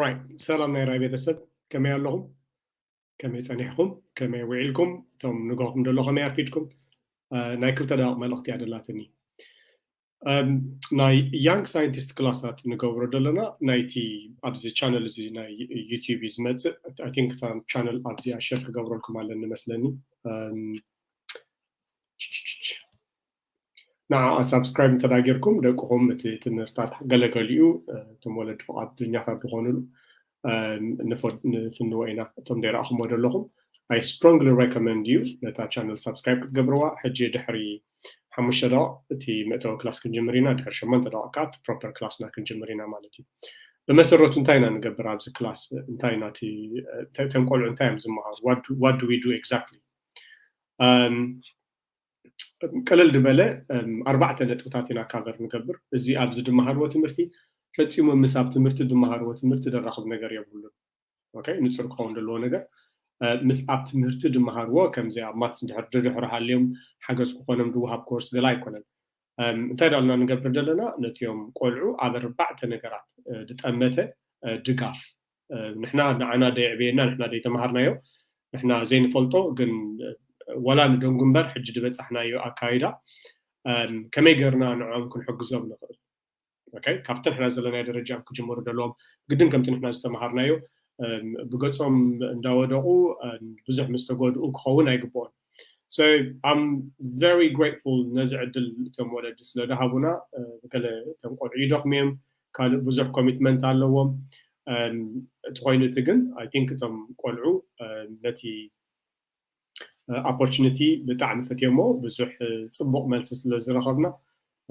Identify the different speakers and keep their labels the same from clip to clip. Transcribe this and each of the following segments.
Speaker 1: ራይት ሰላም ናይ ራይ ቤተሰብ ከመይ ኣለኹም ከመይ ፀኒሕኩም ከመይ ውዒልኩም እቶም ንገኹም ደሎ ከመይ ኣርፊድኩም ናይ ክልተ ደቂ መልእኽቲ እያ ደላትኒ ናይ ያንግ ሳይንቲስት ክላሳት ንገብሮ ዘለና ናይቲ ኣብዚ ቻነል እዚ ናይ ዩቲብ እዩ ዝመፅእ ኣይ ቲንክ እታ ቻነል ኣብዚኣ ሸር ክገብረልኩም ኣለኒ መስለኒ ንዓኣ ሳብስክራይብ እንተ ጌርኩም ደቅኹም እቲ ትምህርታት ገለ ገሊኡ እቶም ወለዲ ፍቓደኛታት ዝኾኑሉ ንፍንዎ ኢና እቶም ዘይረኣኹምዎ ዘለኹም I strongly recommend you ነታ ቻነል ሳብስክራይብ ክትገብርዋ ሕጂ ድሕሪ ሓሙሽተ ደቂቕ እቲ መእተዊ ክላስ ክንጅምር ኢና ድሕሪ ሸሞንተ ደቂቕ ከዓ እቲ ፕሮፐር ክላስና ክንጅምር ኢና ማለት እዩ ብመሰረቱ እንታይ ኢና ንገብር ኣብዚ ክላስ እንታይ ኢና እቲ እቶም ቆልዑ እንታይ እዮም ዝመሃሩ ዋት ዱ ዊ ዱ ኤግዛክትሊ ቅልል ድበለ ኣርባዕተ ነጥብታት ኢና ካቨር ንገብር። እዚ ኣብ ዝድመሃርዎ ትምህርቲ ፈጺሙ ምስ ኣብ ትምህርቲ ድመሃርዎ ትምህርቲ ደራኹብ ነገር የብሉን። ኦከይ ንጹር ክኸውን ደለዎ ነገር ምስ ኣብ ትምህርቲ ድመሃርዎ ከምዚ ኣብ ማትስ ድሕር ድድሕር ሃልዮም ሓገዝ ክኾኖም ድወሃብ ኮርስ ገለ ኣይኮነን። እንታይ ዳልና ንገብር ደለና ነትዮም ቆልዑ ኣብ ኣርባዕተ ነገራት ድጠመተ ድጋፍ ንሕና ንዓና ደይዕበየና ንሕና ደይተማሃርናዮ ንሕና ዘይንፈልጦ ግን ዋላ ንደንጉ እምበር ሕጂ ድበጻሕናዮ ኣካይዳ ከመይ ገርና ንዕኦም ክንሕግዞም ንኽእል ኦከይ ካብቲ ንሕና ዘለናዮ ደረጃ እዮም ክጅምሩ ደለዎም ግድን ከምቲ ንሕና ዝተማሃርናዮ ብገጾም እንዳወደቑ ብዙሕ ምስ ተጎድኡ ክኸውን ኣይግብኦን So I'm very grateful ነዚ ዕድል እቶም ወለዲ ስለ ድሃቡና ገለ እቶም ቆልዑ ይደኽሙ እዮም ካልእ ብዙሕ ኮሚትመንት ኣለዎም እቲ ኮይኑ እቲ ግን ኣይ ቲንክ እቶም ቆልዑ ነቲ ኣፖርቹኒቲ ብጣዕሚ ፈትዮሞ ብዙሕ ፅቡቕ መልሲ ስለ ዝረኸብና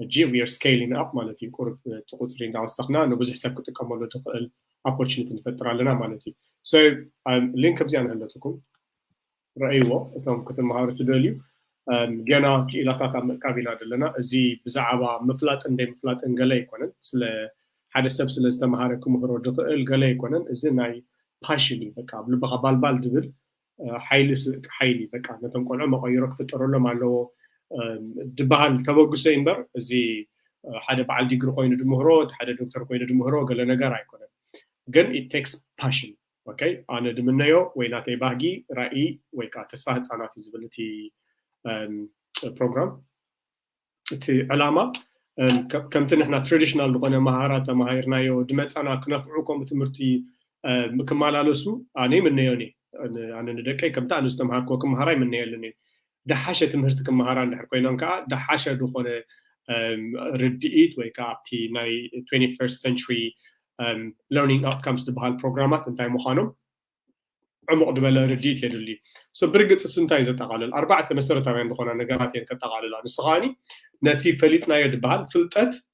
Speaker 1: ሕጂ ዊር ስኬሊንግ ኣፕ ማለት እዩ ቁርብ እቲ ቁፅሪ እንዳወሰኽና ንብዙሕ ሰብ ክጥቀመሉ ዝኽእል ኣፖርቹኒቲ ንፈጥር ኣለና ማለት እዩ ሶ ሊንክ ኣብዚኣ ንህለትኩም ርኣይዎ እቶም ክትመሃሩ ትደልዩ ገና ኪኢላታት ኣብ ምእካብ ኢና ደለና እዚ ብዛዓባ ምፍላጥን ደይምፍላጥን ገለ ኣይኮነን ስለ ሓደ ሰብ ስለ ዝተመሃረ ክምህሮ ድክእል ገለ ኣይኮነን እዚ ናይ ፓሽን እዩ በቃ ኣብ ልብካ ባልባል ድብል ሓይሊ ሓይሊ በቃ ነቶም ቆልዑ መቀይሮ ክፍጠረሎም ኣለዎ ድበሃል ተበግሶ እዩ እምበር እዚ ሓደ በዓል ዲግሪ ኮይኑ ድምህሮ እቲ ሓደ ዶክተር ኮይኑ ድምህሮ ገለ ነገር ኣይኮነን ግን ኢት ቴክስ ፓሽን ኦከ ኣነ ድምነዮ ወይ ናተይ ባህጊ ራኢ ወይ ከኣ ተስፋ ህጻናት እዩ ዝብል እቲ ፕሮግራም እቲ ዕላማ ከምቲ ንሕና ትራዲሽናል ዝኾነ መሃራ ተማሂርናዮ ድመጻና ክነፍዑ ከምኡ ትምህርቲ ክመላለሱ ኣነ ይምነዮን እየ ኣነ ንደቀይ ከምቲ ኣነ ዝተምሃርክዎ ክመሃራ ይምነየልን እየ ደሓሸ ትምህርቲ ክመሃራ እንድሕር ኮይነን ከኣ ደሓሸ ዝኾነ ርድኢት ወይ ከኣ ኣብቲ ናይ ትዌንቲ ፈርስት ሰንቹሪ ለርኒንግ ኣውትካምስ ዝበሃል ፕሮግራማት እንታይ ምዃኖም ዕሙቕ ዝበለ ርድኢት የድሊ እዩ ሶ ብርግጽ እሱ እንታይ እዩ ዘጠቓልል ኣርባዕተ መሰረታውያን ዝኾና ነገራት እየን ከጠቓልላ ንሱ ከዓኒ ነቲ ፈሊጥናዮ ዝበሃል ፍልጠት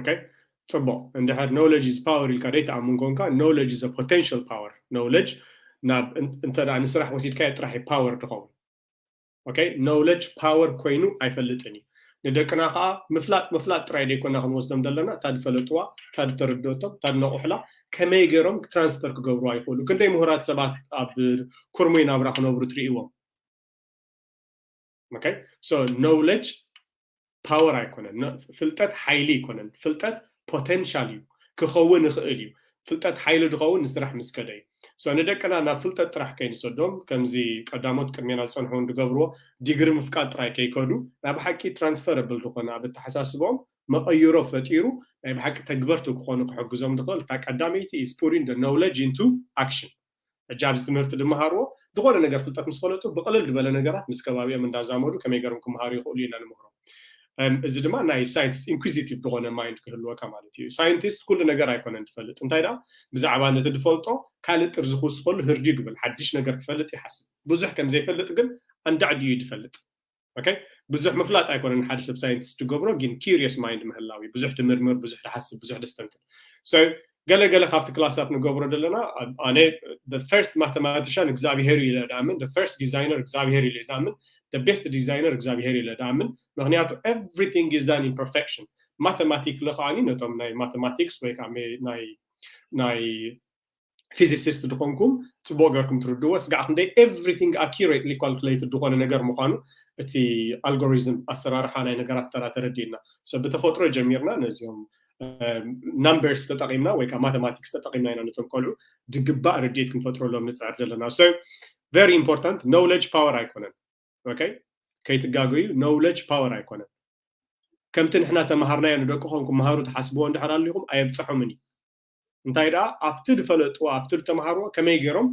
Speaker 1: ኦኬ ጽቡቕ እንድሕር ኖውለጅ ኢዝ ፓወር ኢልካ ደይትኣምን ኮንካ ኖውለጅ ኢዝ ፖቴንሽል ፓወር ኖውለጅ ናብ እንተ ንስራሕ ወሲድካዮ ጥራሕ እዩ ፓወር ድኸውን ኦኬ ኖውለጅ ፓወር ኮይኑ ኣይፈልጥን እዩ ንደቅና ከዓ ምፍላጥ ምፍላጥ ጥራይ ደይኮና ክንወስዶም ዘለና እታ ድፈለጥዋ እታ ድተረድኦቶም እታ ድነቑሕላ ከመይ ገይሮም ትራንስፈር ክገብርዋ ይኽእሉ ክንደይ ምሁራት ሰባት ኣብ ኩርሙይ ናብራ ክነብሩ ትርእይዎም ኖውለጅ ፓወር ኣይኮነን ፍልጠት ሓይሊ ኣይኮነን ፍልጠት ፖቴንሻል እዩ ክኸውን ይኽእል እዩ ፍልጠት ሓይሊ ዝኸውን ንስራሕ ምስ ከደ እዩ ንደቅና ናብ ፍልጠት ጥራሕ ከይንሰዶም ከምዚ ቀዳሞት ቅድሜና ዝፀንሑ ዝገብርዎ ዲግሪ ምፍቃድ ጥራይ ከይከዱ ናይ ብሓቂ ትራንስፈረብል ዝኾነ ኣብ ኣተሓሳስቦም መቐይሮ ፈጢሩ ናይ ብሓቂ ተግበርቲ ክኾኑ ክሕግዞም ዝኽእል እታ ቀዳመይቲ ኢዝ ፑቲንግ ኖውለጅ ኢንቱ ኣክሽን ሕጂ ኣብዚ ትምህርቲ ድመሃርዎ ድኾነ ነገር ፍልጠት ምስ ፈለጡ ብቅልል ድበለ ነገራት ምስ ከባቢኦም እንዳዛመዱ ከመይ ገሮም ክመሃሩ ይኽእሉ ኢና ንምህሮም እዚ ድማ ናይ ሳይንቲስት ኢንኩዚቲቭ ድኾነ ማይንድ ክህልወካ ማለት እዩ ሳይንቲስት ኩሉ ነገር ኣይኮነን ድፈልጥ እንታይ ደኣ ብዛዕባ ነቲ ድፈልጦ ካልእ ጥርዚ ክውስኸሉ ህርድዩ ድብል ሓድሽ ነገር ክፈልጥ ይሓስብ ብዙሕ ከምዘይፈልጥ ግን ኣንዳዕዲኡ እዩ ድፈልጥ ኦከይ ብዙሕ ምፍላጥ ኣይኮነን ሓደ ሰብ ሳይንቲስት ዝገብሮ ግን ኪሪየስ ማይንድ ምህላው እዩ ብዙሕ ትምርምር ብዙሕ ትሓስብ ብዙሕ ደስተንትን ሶ ገለ ገለ ካብቲ ክላሳት ንገብሮ ዘለና ኣነ ፈርስት ማተማቲሻን እግዚኣብሄር እዩ ለድኣምን ፈርስት ዲዛይነር እግዚኣብሄር እዩ ለድኣምን ቤስት ዲዛይነር እግዚኣብሄር እዩ ለድኣምን ምክንያቱ ኤቭሪቲንግ ኢዝ ዳን ኢን ፐርፌክሽን ማተማቲክ ለከዓኒ ነቶም ናይ ማተማቲክስ ወይ ከዓ ናይ ናይ ፊዚሲስት ድኾንኩም ጽቡቕ ገርኩም ትርድእዎ ስጋዕ ክንደይ ኤቭሪቲንግ ኣኪሬትሊ ኳልኩሌትድ ዝኾነ ነገር ምዃኑ እቲ ኣልጎሪዝም ኣሰራርሓ ናይ ነገራት ተራ ተረዲእና ሰብ ብተፈጥሮ ጀሚርና ነዚኦም ናምበርስ ተጠቒምና ወይ ከዓ ማተማቲክስ ተጠቒምና ኢና ነቶም ቆልዑ ድግባእ ርድኢት ክንፈጥረሎም ንፅዕር ዘለና ሶ ቨሪ ኢምፖርታንት ኖውለጅ ፓወር ኣይኮነን ኦኬ ከይትጋገዩ ኖውለጅ ፓወር ኣይኮነን ከምቲ ንሕና ተምሃርናዮ ንደቅኹም ክምሃሩ ትሓስብዎ እንድሕር ኣሊኹም ኣየብፅሖምን እዩ እንታይ ደኣ ኣብቲ ድፈለጥዎ ኣብቲ ድተማሃርዎ ከመይ ጌሮም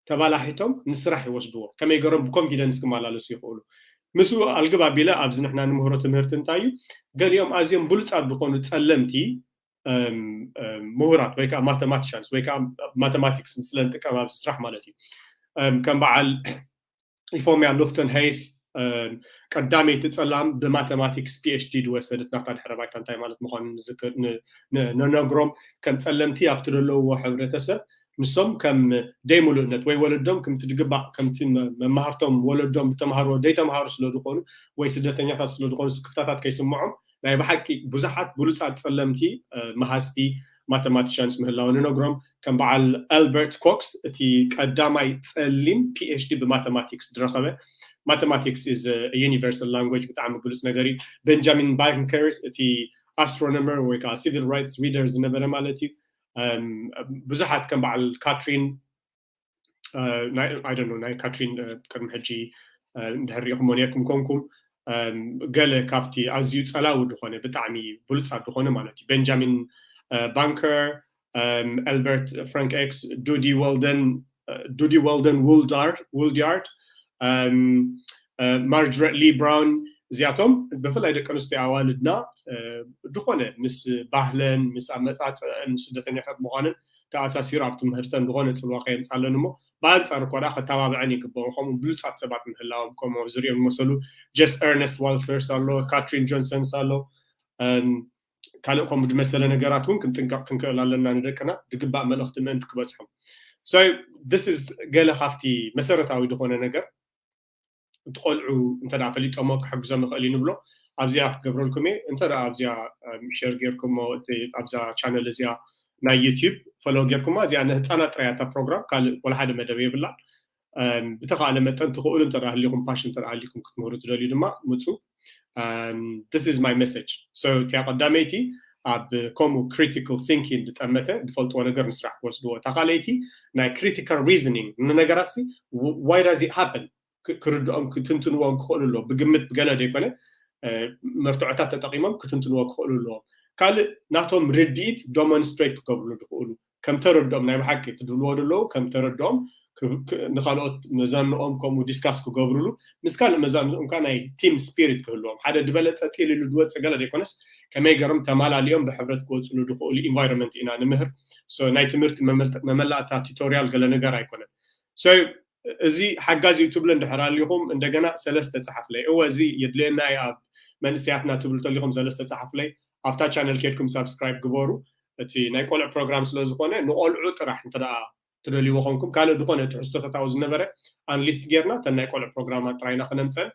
Speaker 1: ተባላሒቶም ንስራሕ ይወስድዎ ከመይ ጌሮም ብኮንፊደንስ ክማላለሱ ይኽእሉ ምስኡ ኣልግብ ኣቢለ ኣብዚ ንሕና ንምህሮ ትምህርቲ እንታይ እዩ ገሊኦም ኣዝዮም ብሉጻት ዝኾኑ ጸለምቲ ምሁራት ወይ ከዓ ማተማቲሻንስ ወይ ከዓ ማተማቲክስ ስለንጥቀም ኣብዚ ስራሕ ማለት እዩ ከም በዓል ኢፎምያ ሉፍተን ሀይስ ቀዳመይቲ ፀላም ብማተማቲክስ ፒኤችዲ ዝወሰደት ናታ ድሕረ ባይታ እንታይ ማለት ምኳኑ ንነግሮም ከም ፀለምቲ ኣብቲ ዘለውዎ ሕብረተሰብ ንሶም ከም ደይ ሙሉእነት ወይ ወለዶም ከምቲ ድግባእ ከምቲ መማህርቶም ወለዶም ዝተማሃርዎ ዘይተማሃሩ ስለዝኾኑ ወይ ስደተኛታት ስለዝኾኑ ስክፍታታት ከይስምዖም ናይ ብሓቂ ብዙሓት ብሉጻት ጸለምቲ መሃዝቲ ማተማቲሻንስ ምህላወን እነግሮም። ከም በዓል ኣልበርት ኮክስ እቲ ቀዳማይ ጸሊም ፒኤችዲ ብማተማቲክስ ዝረኸበ። ማተማቲክስ ኢዝ አ ዩኒቨርሳል ላንጉጅ ብጣዕሚ ብሉጽ ነገር እዩ። ቤንጃሚን ባንከርስ እቲ ኣስትሮኖመር ወይ ከዓ ሲቪል ራይትስ ሪደር ዝነበረ ማለት እዩ። ብዙሓት ከም በዓል ካትሪን ኣይደኖ ናይ ካትሪን ቅድሚ ሕጂ እንድሕር ሪኢኹሞ ኔርኩም ኮንኩም ገለ ካብቲ ኣዝዩ ጸላዊ ዝኾነ ብጣዕሚ ብሉጻት ዝኾነ ማለት እዩ ቤንጃሚን ባንከር ኤልበርት ፍራንክ ኤክስ ዱዲ ወልደን ዱዲ ወልደን ውልድያርድ ማርጅሬት ሊ ብራውን እዚኣቶም ብፍላይ ደቂ ኣንስትዮ ኣዋልድና ዝኾነ ምስ ባህለን ምስ ኣመፃፅእን ስደተኛታት ምዃንን ተኣሳሲሩ ኣብ ትምህርተን ዝኾነ ጽልዋ ከየምጻለን እሞ ብኣንጻሩ እኳ ደኣ ከተባብዐን ይግበኦ ከምኡ ብሉጻት ሰባት ምህላዎም ከምኡ ኣብ ዝርኦም ዝመሰሉ ጀስ ኤርነስት ዋልፈርስ ኣሎ ካትሪን ጆንሰንስ ኣሎ ካልእ ከምኡ ዝመሰለ ነገራት እውን ክንጥንቀቕ ክንክእል ኣለና ንደቅና ዝግባእ መልእኽቲ ምእንቲ ክበጽሖም ሶ ስ ገለ ካብቲ መሰረታዊ ዝኾነ ነገር እቲ ቆልዑ እንተ ፈሊጦሞ ክሕግዞም ይኽእል እዩ ንብሎ ኣብዚኣ ክገብረልኩም እየ እንተ ኣብዚኣ ሸር ጌርኩሞ ኣብዛ ቻነል እዚኣ ናይ ዩቲብ ፈሎ ጌርኩማ እዚኣ ንህፃናት ጥራይ እታ ፕሮግራም ካልእ ወላ ሓደ መደብ የብላን ብተኻእለ መጠን ትኽእሉ እንተ ሃሊኹም ፓሽን እንተ ሃሊኩም ክትምህሩ ትደልዩ ድማ ምፁ ስ ስ ማይ መሰጅ እቲያ ቀዳመይቲ ኣብ ከምኡ ክሪቲካል ቲንኪን ዝጠመተ ዝፈልጥዎ ነገር ንስራሕ ክወስድዎ እታ ካልኣይቲ ናይ ክሪቲካል ሪዝኒንግ ንነገራት ሲ ዋይ ዳዝ ኢት ሃፕን ክርድኦም ክትንትንዎ ክኽእሉ ኣለዎም ብግምት ብገለ ዘይኮነ መርትዖታት ተጠቒሞም ክትንትንዎ ክኽእሉ ኣለዎም ካልእ ናቶም ርድኢት ዶሞንስትሬት ክገብርሉ ዝኽእሉ ከም ተረድኦም ናይ ብሓቂ እቲ ድብልዎ ደለዉ ከም ተረድኦም ንካልኦት መዛንኦም ከምኡ ዲስካስ ክገብርሉ ምስ ካልእ መዛንኦም ከኣ ናይ ቲም ስፒሪት ክህልዎም ሓደ ድበለጸ ጢል ኢሉ ድወጽእ ገለ ደይኮነስ ከመይ ገሮም ተማላሊኦም ብሕብረት ክወጽሉ ድክእሉ ኢንቫይሮመንት ኢና ንምህር ሶ ናይ ትምህርቲ መመላእታ ቲቶርያል ገለ ነገር ኣይኮነን ሶ እዚ ሓጋዚ እዩ ትብሉ እንድሕር ኣሊኹም እንደገና ሰለስተ ጸሓፍለይ እወ እዚ የድልየና እዩ ኣብ መንእሰያትና ትብሉ ተሊኹም ዘለስተ ጸሓፍለይ ኣብታ ቻነል ኬድኩም ሳብስክራይብ ግበሩ እቲ ናይ ቆልዑ ፕሮግራም ስለ ዝኾነ ንቆልዑ ጥራሕ እንተ ትደልይዎ ኮንኩም ካልእ ድኾነ ትሕዝቶተት ኣብኡ ዝነበረ ኣንሊስት ጌርና እተን ናይ ቆልዑ ፕሮግራማት ጥራይ ኢና ክነምጸን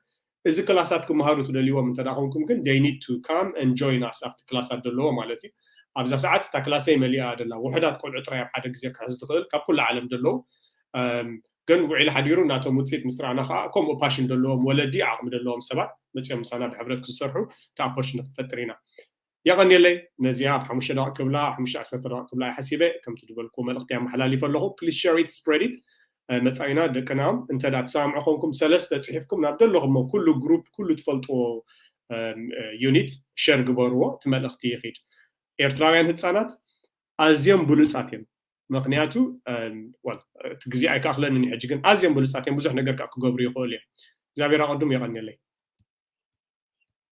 Speaker 1: እዚ ክላሳት ክመሃሩ ትደልይዎም እንተ ኮንኩም ግን they need to come and join us ኣብቲ ክላሳት ደለዎ ማለት እዩ ኣብዛ ሰዓት እታ ክላሰይ መሊኣ እያ ደላ ውሑዳት ቆልዑ ጥራይ ኣብ ሓደ ግዜ ክሕዝ ትኽእል ካብ ኩሉ ዓለም ደለዉ ግን ውዒሉ ሓዲሩ ናቶም ውጽኢት ምስ ረኣና ከኣ ከምኡ ፓሽን ደለዎም ወለዲ ዓቕሚ ደለዎም ሰባት መጽዮም ምሳና ብሕብረት ክሰርሑ እቲ ኣፖርቹኒቲ ክንፈጥር ኢና የቐንየለይ ነዚኣ ኣብ ሓሙሽተ ደቒቕ ክብላ ሓሙሽተ ዓሰርተ ደቒቕ ክብላ እየ ሓሲበ ከምቲ ድበልኩዎ መልእኽተይ ኣመሓላሊፈ ኣለኹ please share it spread it መጻኢና ደቅና እንተ ትሰማምዑ ኮንኩም ሰለስተ ጽሒፍኩም ናብ ደለኹሞ ኩሉ ግሩፕ ኩሉ ትፈልጥዎ ዩኒት ሸር ግበርዎ እቲ መልእኽቲ ይኺድ ኤርትራውያን ህጻናት ኣዝዮም ብሉጻት እዮም ምክንያቱ እቲ ግዜ ኣይከኣክለንን ሕጂ ግን ኣዝዮም ብሉፃት እዮም ብዙሕ ነገር ከዓ ክገብሩ ይኽእሉ እዮም እግዚኣብሔር ኣቐዱም የቐንየለይ